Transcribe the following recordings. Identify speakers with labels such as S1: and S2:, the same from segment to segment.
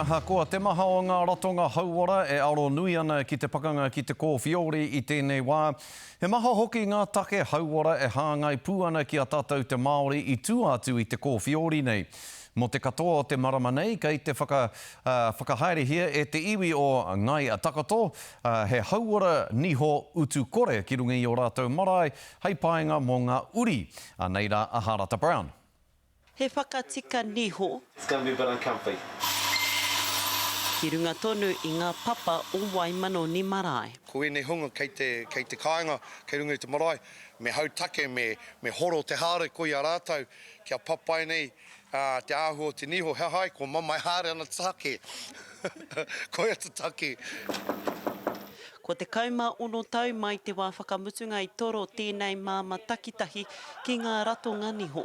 S1: Ahakoa te maha o ngā ratonga hauora e aro nui ana ki te pakanga ki te kōwhiori i tēnei wā, he maha hoki ngā take hauora e hāngai pū ana ki a tātou te Māori i tua atu i te kōwhiori nei. Mō te katoa o te marama nei, kei te whakahaerehia e te iwi o Ngāi Takoto he hauora niho utu kore ki runga i ō rātou marae hei painga mō ngā uri. Anei rā a Harata Brown. He
S2: whakatika niho. It's going to be a bit uncomfy. Ki runga tonu i ngā papa o Waimanoni Marae. Ko ēnei hunga kei
S3: te, kei te kāinga, kei runga i te marae, me hau take, me, me horo te haere ko ia rātou, kia papai nei, ā, te āhua o te niho, he aha ai, kua mamae haere ana te take. Koia te take.
S2: Kua tekau mā ono tau mai te wā whakamutunga i toro tēnei māmā takitahi ki ngā ratonga niho.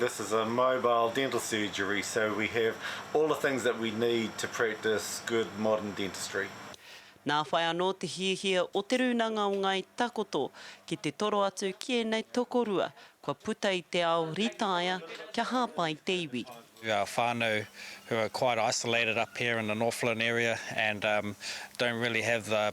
S4: This is a
S5: mobile dental surgery so we have all the things that we need to practice good modern dentistry. Nā whai
S2: anō te hiahia o Te Rūnanga o Ngāi Takoto ki te toro atu ki ēnei tokorua kua puta i te ao rītaia kia hāpai te iwi. Our whānau
S6: who are quite isolated up here in the Northland area and don't really have the.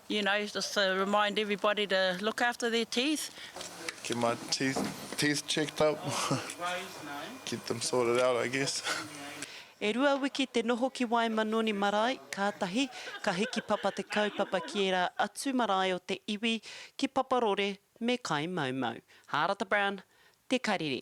S4: You know, just to remind everybody to look after their teeth. Get my
S7: teeth teeth checked up. Get them sorted out, I guess. E rua
S2: wiki te noho ki Waimanoni marae, kātahi ka hiki papa te kaupapa ki ērā atu marae o te iwi, ki Paparore me Kaimaumau. Hārata Brown, Te Karere.